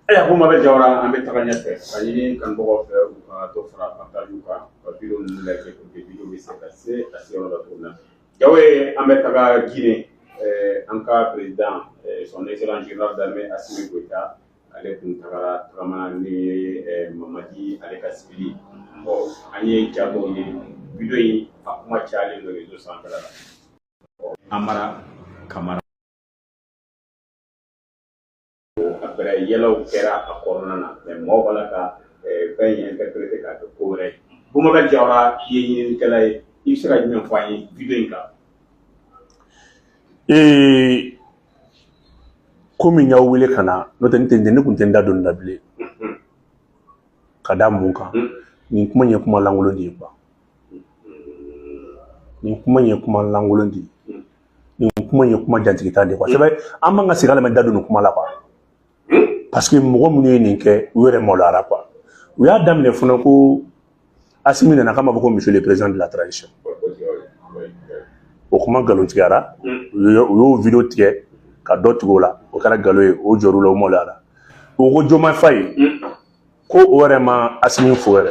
Ayiwa Bumabɛ Jawara an bɛ taga ɲɛfɛ ka ɲini kanubagaw fɛ u ka dɔ fara partage kan ka video ninnu lajɛ ko video bɛ se ka se ka se yɔrɔ la cogo na Jawara an bɛ taga gine an ka président son excellence général d'armée asimi goita ale tun taara taama ni ye mamadi ale ka sigili bon an ye ja dɔ ye video in a kuma calen don réseau san la amara kamara après yɛlɛw kɛra a kɔnɔna na mais mɔgɔw b'a la ka fɛn in interpréter k'a kɛ ko wɛrɛ ye Bumabɛ Jawara i ye ɲininikɛla ye i bɛ se ka jumɛn fɔ an ye video in kan ee komi n y'aw wele ka na n'o tɛ ne tɛ ne tun tɛ n da don nin na bilen ka da mun kan nin kuma in ye kuma lankolon de ye kuwa nin kuma in ye kuma lankolon de ye nin kuma in ye kuma jantigita de ye kuwa sɛbɛ an man ka sigi k'a lamɛn da don nin kuma la kuwa parce que mɔgɔ minnu ye nin kɛ u yɛrɛ maloyara kuwa u y'a daminɛ fana ko asimi nana k'a ma fɔ ko monsieur le président de la transition o kuma nkalontigiyara u y'o- u y'o video tigɛ ka dɔ tigɛ o la o kɛra nkalon ye o jɔr'u la o maloyara u ko Diomaye Faye ko o yɛrɛ ma asimi fo yɛrɛ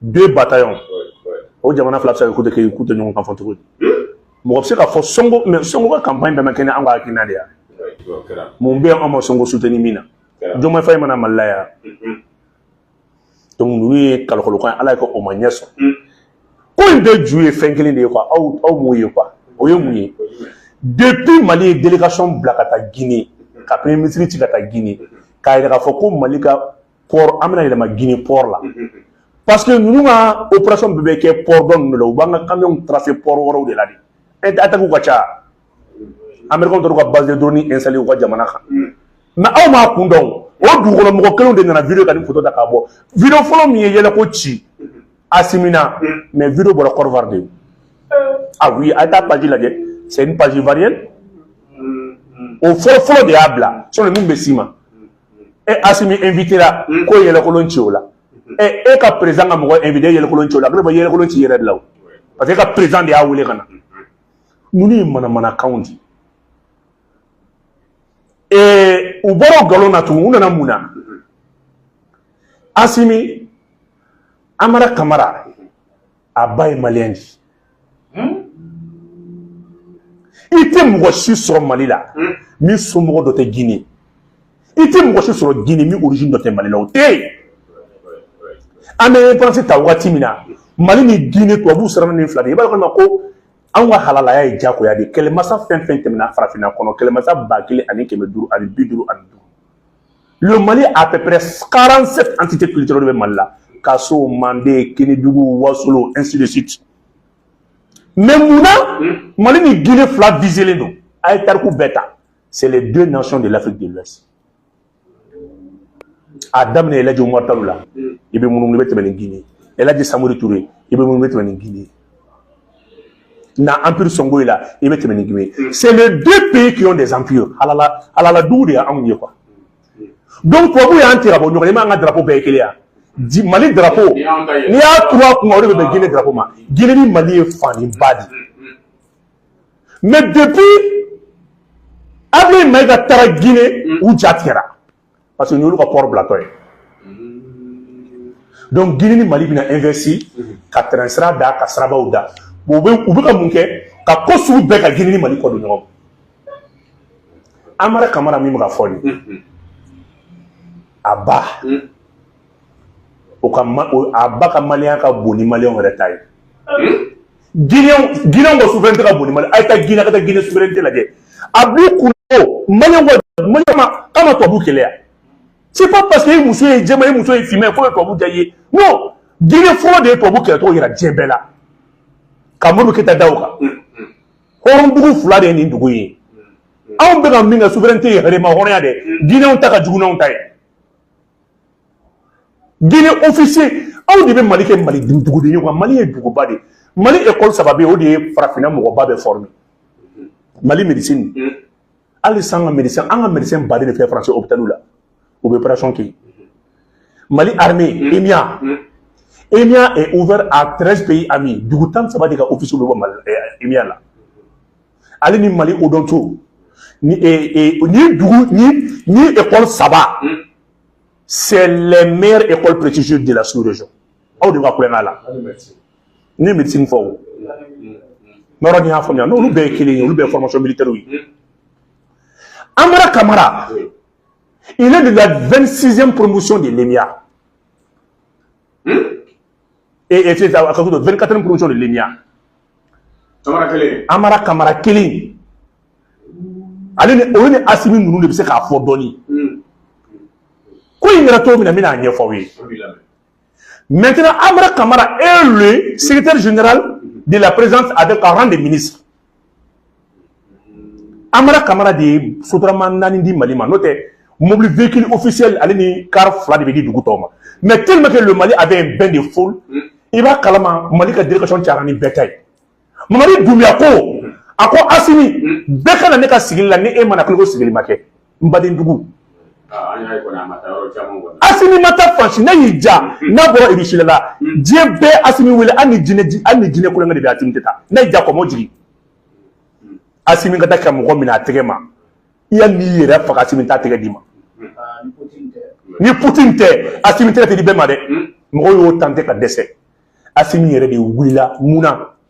deux bataillons o jamana fila bɛ se ka k'u tɛ k'u tɛ ɲɔgɔn kan fɔ cogo di mɔgɔ bɛ se k'a fɔ sonko mais sonko ka campagne bɛɛ ma kɛ ni an ka hakilina de ya mun bɛ an ma sonko soutenir min na Diomaye Faye ma na mali la yan donc ninnu ye kalokolokan ye ala y'a kɛ o ma ɲɛ sɔrɔ ko in bɛɛ ju ye fɛn kelen de ye quoi aw aw m'o ye quoi o ye mun ye depuis mali ye délégation bila ka taa guinée ka premier ministre ci ka taa guinée k'a yira k'a fɔ ko mali ka port an bɛna yɛlɛma gine port la parce que ninnu ka operation bɛɛ bɛ kɛ port dɔ ninnu de la u b'an ka camion tracer port wɛrɛw de la de ɛnte attaque ka ca américain tora ka base de drone installé u ka jamana kan mais aw m'a kun dɔn o dugukɔnɔ mɔgɔ kelenw de nana video ka ni photo ta k'a bɔ video fɔlɔ min ye yɛlɛko ci asimi na mais video bɔra Côte d'Ivoire de ah oui a ye taa page lajɛ c'est une page ivoirienne o fɔlɔ fɔlɔ de y'a bila sani nin bɛ s'i ma e asimi invité la hmm. ko yɛlɛkolon ci o la hmm. e e ka président ka mɔgɔ invité yɛlɛkolon ci o la ko i b'a yɛlɛkolon ci i yɛrɛ de la o parce que e ka président de y'a wele ka na hmm. ninnu ye manamanakanw di ee u bɔra o nkalon na tugun u nana mun na asimi amara kamara a ba ye maliyɛn di hmm? i tɛ mɔgɔ si sɔrɔ mali la hmm? min somɔgɔ dɔ tɛ gine i tɛ mɔgɔ si sɔrɔ gine min origine dɔ tɛ mali la o tɛ yen an bɛ indépendance ta wagati min na mali ni gine tubabuw siranna nin fila de i b'a dɔn ma ko anw ka halalaya ye jagoya de kɛlɛmasa fɛn fɛn tɛmɛna farafinna kɔnɔ kɛlɛmasa ba kelen ani kɛmɛ duuru ani bi duuru ani duuru Le Mali a peu près 47 entités culturelles bɛ Mali la Kaso, Mande, Kenedugu, Wasolo, ainsi de suite mais mun na Mali ni Guinée fila viselen don a ye tarikuw bɛɛ ta c'est les deux nations de l'Afrique de l'Ouest a daminɛ El Hadji Umaru Talo la i bɛ munumunu i bɛ tɛmɛ ni Guinée El Hadji Samori Ture i bɛ munumunu i bɛ tɛmɛ ni Guinée na empire sɔngoyi la i bɛ tɛmɛ ni guinée mm. c'est les deux pays qui ont des empires halala dugu de y'anw ye quoi mm. donc tubabu y'an tila bɔ ɲɔgɔn i m'an ka drapeau bɛɛ ye kelen ye mali drapeau n'i y'a turu a kunna o de bɛ bɛn guinée drapeau ma guinée ni mali ye fa ni ba de mm, mais depuis ablaye mayiga taara guinée u ja tigɛra parce que n'olu ka pɔri bilatɔ ye donc guinée ni mali bɛna investir ka tɛrɛn sira da ka sirabaw da u bɛ u bɛ ka mun kɛ ka ko sugu bɛɛ ka guinée ni mali kɔ don ɲɔgɔn amara kamara min bɛ ka fɔ nin a ba o ka ma o a ba ka maliyɛn ka bon ni maliyɛnw yɛrɛ ta ye ginɛw ginɛw ka souveraineté ka bon ni maliyɛn a ye taa ginɛ ka taa ginɛ souveraineté lajɛ a b'u kun ko maliyɛnw ka maliyɛn ma k'a ma tubabu kɛlɛ ya c'est pas parce que i muso ye jɛma i muso ye finma ye k'o ye tubabu diya i ye non ginɛ fɔlɔ de ye tubabu kɛlɛcogo yira diɲɛ bɛɛ la ka modibo keyita da o kan hɔrɔndugu fila de ye nin dugu ye anw bɛ ka min kɛ souveraineté yɛrɛmahɔrɔnya dɛ ginɛw ta ka jugu n'anw ta ye Guinée officier aw de bɛ Mali kɛ Mali duguden ye quoi Mali ye duguba de ye Mali école saba bɛ yen o de ye farafinna mɔgɔba bɛɛ former Mali médecine hali sisan an ka médecin an ka médecin baden de filɛ France hôpitaliw la u bɛ operation kɛ yen Mali armée EMIA EMIA est ouvert à 13 pays amis dugu tan ni saba de ka officiers bɛ bɔ EMIA la. ale ni mali odonto ni dugu ni ni ekɔli saba c'est les meilleures écoles prestigieuses de la sous-région aw de ka kulonkɛ la ni médecine fɔ o yɔrɔ n'i y'a faamuya n'olu bɛɛ ye kelen ye olu bɛɛ ye formation militaire ye Amara Kamara il est de la 26e promotion de l'EMIA e e c'est ça akakudo 24e promotion de l'EMIA kamara kelen amara kamara kelen ale ni o ni asimi ninnu de bɛ se k'a fɔ dɔɔni ko in kɛra cogo min na n bɛna a ɲɛfɔ aw ye maintenant amara kamara est le secrétaire général de la présidence avec un rang de ministre amara kamara de ye sotarama naani di mali ma n'o tɛ mobili véhicule officiel ale ni kar fila de bɛ di dugu tɔw ma mais tellement que le mali avait un bain de foule mm. i b'a kalama mali ka délégation cayara ni bɛɛ ta ye mamadi dumbuya ko a ko asimi mm. bɛ ka na ne ka sigili la ni e ma na kɛlen i ko sigili ma kɛ n baden dugu asimi ma taa fan si n'a y'i ja n'a bɔra irusila la diɲɛ bɛ asimi wele an ni jinɛ an ni jinɛ kolonkɛ de bɛ asimi tɛ taa n'a y'i ja kɔmɔ jigin asimi ka taa ka mɔgɔ minɛ a tɛgɛ ma i ya n'i yɛrɛ faga asimi t'a tɛgɛ d'i ma ni putin tɛ asimi tɛgɛ tɛ di bɛɛ ma dɛ mɔgɔw y'o tenté ka dɛsɛ asimi yɛrɛ de wulila mun na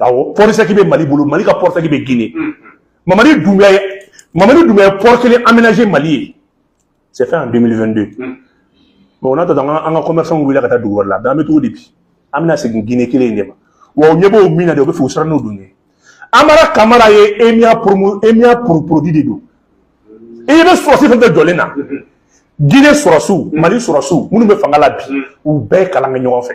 awɔ port sec bɛ mali bolo mali ka port sec bɛ gine mamadi dumbuya ye mamadi dumbuya ye port kelen aménagé mali ye c'est fait en 2022 bon n'a tɔtɔ an ka commerçant wulila ka taa dugu wɛrɛ la an bɛ cogo di bi an bɛna segin gine kelen in de ma wa u ɲɛ b'o min na de u bɛ fɛ u siran n'o don ye amara kamara ye emia promo emia produit de don i bɛ sɔrɔsi fɛn fɛn jɔlen na gine sɔrɔsiw mali sɔrɔsiw minnu bɛ fanga la bi u bɛɛ kalan kɛ ɲɔgɔn fɛ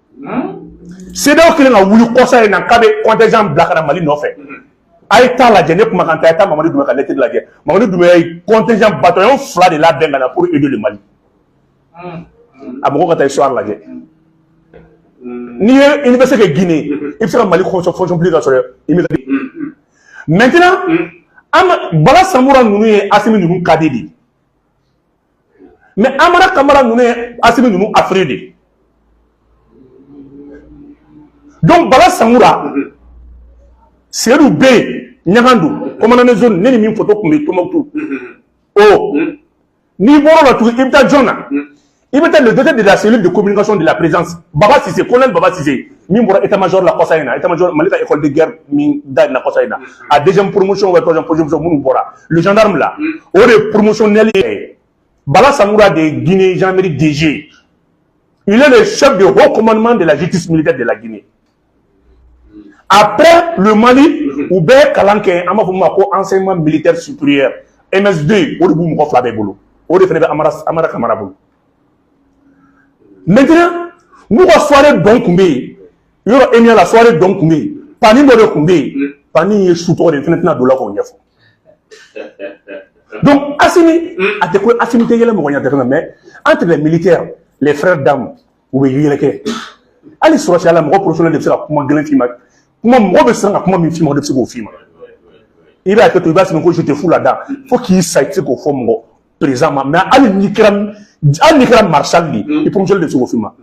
CEDEAO kɛlen ka wuli kɔsa in na k'a bɛ contingent bila ka na Mali nɔfɛ a ye taa lajɛ ne kumakan tɛ a ye taa Mamadi Dunbuya ka lettre lajɛ Mamadi Dunbuya ye contingent bataillon fila de labɛn ka na pour aider le Mali a mɔgɔw ka taa histoire lajɛ n'i ye université kɛ Guinée i bɛ se ka Mali fonction publique ka sɔrɔ i bɛ maintenant Bala Samura ninnu ye Asimi ninnu cadet de ye mais amara kamara ninnu ye asimi ninnu affreux de ye donc bala samura seyidu b ɲagandu commandant zone ne ni min foto tun bɛ tumutu o n'i bɔr'o la tugun i bɛ taa jɔn na i bɛ taa le directeur de la cellule de communication de la présidence baba sise colonel baba sise min bɔra état major la kɔsa in na état major mali ka école de guerre min dayɛlɛla kɔsa in na a deuxième promotion ou troisième promotion minnu bɔra le gendarme là hmm. o de ye promotionnel ye bala samura de ye guinée gendarmerie dg ye il est le chef de haut commandement de la justice militaire de la guinée après le mali hmm. u bɛɛ kalan kɛ an b'a fɔ min ma ko enseignement militaire supérieur ems2 o de b'u mɔgɔ fila bɛɛ bolo o de fana bɛ amara amara kamara bolo maintenant n'u ka soirée dɔ tun bɛ yen yɔrɔ emia la soirée dɔ tun bɛ yen pani dɔ de tun bɛ yen hmm. pani ye su tɔgɔ de ye fana tɛna don o la k'o ɲɛfɔ Donc, Assimi, mm. a tɛ ko Assimi tɛ yɛlɛ mɔgɔ ɲɛ mais entre les militaires, les frères d'armes, u bɛ yɛlɛ kɛ. Hali sɔrɔsiya la mɔgɔ promotionnel de bɛ se ka kuma gɛlɛn f'i ma. Kuma mɔgɔ bɛ siran ka kuma min f'i ma, o de bɛ se k'o f'i ma. I b'a kɛ to, i b'a sɛbɛn ko je te fous là-dedans fo k'i sa i tɛ se k'o fɔ mɔgɔ président ma mais hali n'i kɛra hali n'i kɛra maréchal de ye, mm. i promotionnel de bɛ se k'o f'i ma.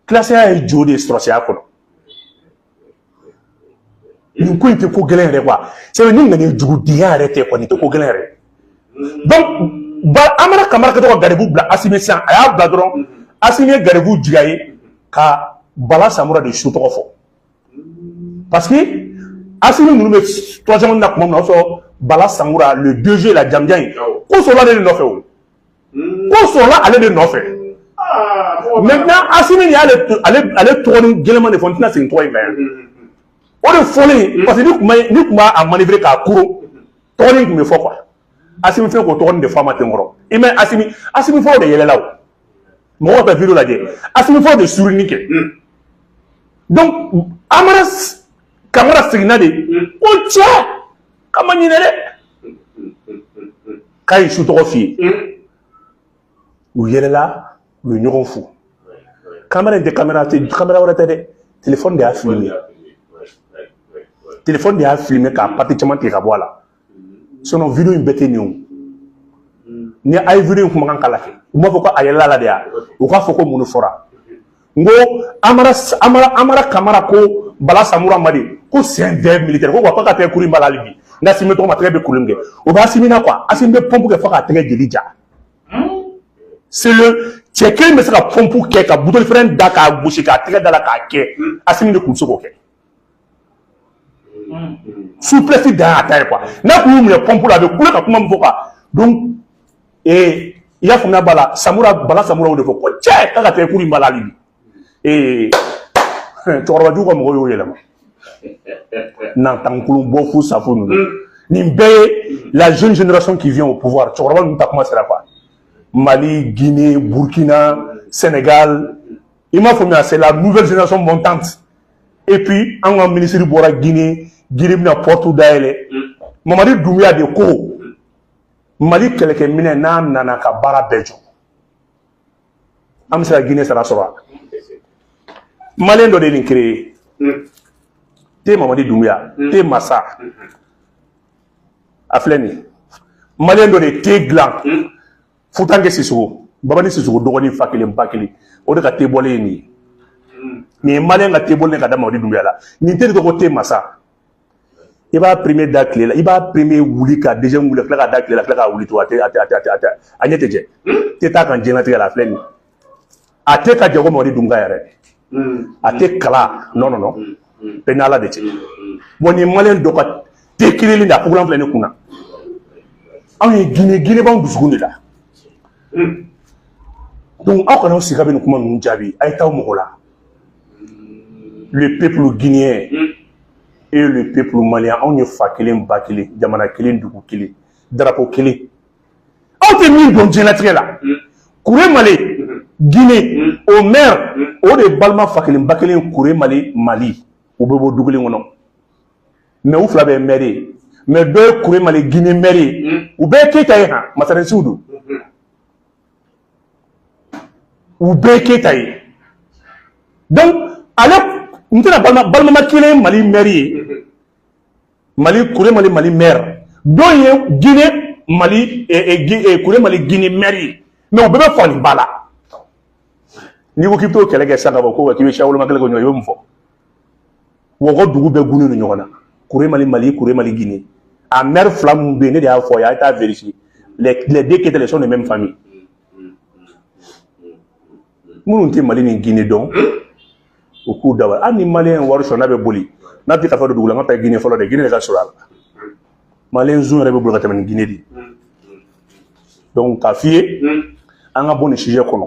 Kilasiya ye jo de ye sɔrɔsiya kɔnɔ. nin ko in tɛ ko gɛlɛn yɛrɛ quoi sabu ni nana jugudenya yɛrɛ tɛ ko nin tɛ ko gɛlɛn yɛrɛ donc amara kamara ka taa ka garibu bila asimi sisan a y'a bila dɔrɔn asimi ye garibu jigin a ye ka bala samura de su tɔgɔ fɔ parce que asimi ninnu bɛ troisième année na tuma min na o sɔrɔ bala samura le deuxième la jamanjan in ko sɔrɔla ale de nɔfɛ o ko sɔrɔla ale de nɔfɛ maintenant asimi ni y'ale ale ale tɔgɔnin gɛlɛman de fɔ n tɛna segin tɔgɔ in kan yan o de fɔlen parce que n'u kun b'a manœuvrer k'a kuru tɔgɔnin tun bɛ fɔ quoi asimi fɛnɛ k'o tɔgɔnin de fɔ a ma ten kɔrɔ i mɛ asimi asimi fɔlɔ de yɛlɛla o mɔgɔw bɛ video lajɛ asimi fɔlɔ de sourire kɛ donc amara kamara seginna de ko cɛ k'a ma ɲinɛ dɛ k'a ye su tɔgɔ f'i ye u yɛlɛla u ye ɲɔgɔn fo kamera in tɛ kamera tɛ kamera wɛrɛ tɛ dɛ telefɔni de y'a filime telefɔni de y'a filime k'a partie caman tigɛ ka bɔ a la sinon video in bɛɛ tɛ nin o ni a ye video in kumakan k'a la kɛ u m'a fɔ ko a yɛlɛla la de ya u k'a fɔ ko mun de fɔra n ko amara amara amara kamara ko bala samura ma de ko c'est un terme militaire ko quoi k'a tɛgɛ kuru in b'a la hali bi nka asimi tɔgɔ ma tɛgɛ bɛ kuru min kɛ o b'asimi na quoi asimi bɛ pɔmpu kɛ fo k'a tɛgɛ jeli ja c'est le cɛ kelen bɛ se ka pɔmpu kɛ ka buteli fɛrɛn da k'a gosi k'a tɛgɛ da a la k'a kɛ asimi de tun bɛ se k'o kɛ souplesse dan y'a ta ye quoi n'a kun y'u minɛ pɔnpu la a bɛ kule ka kuma min fɔ quoi donc ee i y'a faamuya bala samura bala samura o de fɔ ko cɛ k'a ka tɛgɛ kuru in b'a la hali bi ee cɛkɔrɔba jugu ka mɔgɔw y'o yɛlɛma nantankolon bɔfu safu ninnu mm. nin bɛɛ ye la jeune génération qui vient au pouvoir cɛkɔrɔba ninnu taa kuma sera quoi mali guinée burkina sénégal i m'a faamuya c'est la nouvelle génération montante et puis an ka minisiri bɔra guinée guinée bɛna port dayɛlɛ mamadi dunbuya de ko mali kɛlɛkɛminɛ n'a nana ka baara bɛɛ jɔ an bɛ se ka guinée sara sɔrɔ a maliyɛn dɔ de ye nin créé te mamadi dunbuya te masa a filɛ nin ye maliyɛn dɔ de ye te dilan Futankɛ sisɔkɔ babani sisɔkɔ dɔgɔnin fa kelen ba kelen o de ka te bɔlen ye nin ye hmm. nin ye maliyɛn ka te bɔlen ka da mamadi dunbuya la nin te de tɔgɔ te masa i b'a premier da tile la i b'a premier wuli ka deuxième wuli ka tila k'a da tile la tila k'a wuli to a a ɲɛ tɛ jɛ hmm. te t'a kan jtigɛ la a filɛ nin a tɛ ka jago mamadi dumbuya yɛrɛ a tɛ kala non non non bɛɛ n'ala de cɛ bon nin maliyɛn dɔ ka te kirili de a fugulan filɛ ne kun na anw ye gine gine b'anw dusukun de la donc aw kana aw sigi ka bɛ nin kuma ninnu jaabi a ye taa aw mago la le peuple guinéen et le peuple malien anw ye fa kelen ba kelen jamana kelen dugu kelen drapeau kelen aw tɛ min dɔn diɲɛlatigɛ la kuremale gine o mɛri o de balima fa kelen ba kelen kuremale mali u bɛ bɔ du kelen kɔnɔ mais u fila bɛɛ mɛri ye mais dɔ ye kuremale gine mɛri ye u bɛɛ keyita ye han masarensiw don u bɛɛ keyita ye donc ale n tɛna balima ba kelen mali mɛri ye mali kuremale mali maire dɔ ye gine mali eh, eh, eh, kuremale gine maire ye mais u bɛɛ bɛ fa ni ba la n'i ko k'i bɛ t'o kɛlɛ kɛ sisan ka bɔ ko k'i bɛ siyawoloma kɛlɛ kɛ ɲɔgɔn i bɛ mun fɔ wa ko dugu bɛɛ gunnen don ɲɔgɔn na kuremale mali kuremale gine a maire fila minnu bɛ yen ne de y'a fɔ a ye a ye taa vérifier les les deux keita ils sont de même famille minnu tɛ mali ni gine dɔn u k'u da bali hali ni maliyɛn ye wari sɔrɔ n'a bɛ boli n'a tɛ kafa don dugu la an ka taa gine fɔlɔ dɛ gine de ka surun a la maliyɛn zon yɛrɛ bɛ boli ka tɛmɛ ni gine de ye donc k'a f'i ye an ka bɔ nin sujet kɔnɔ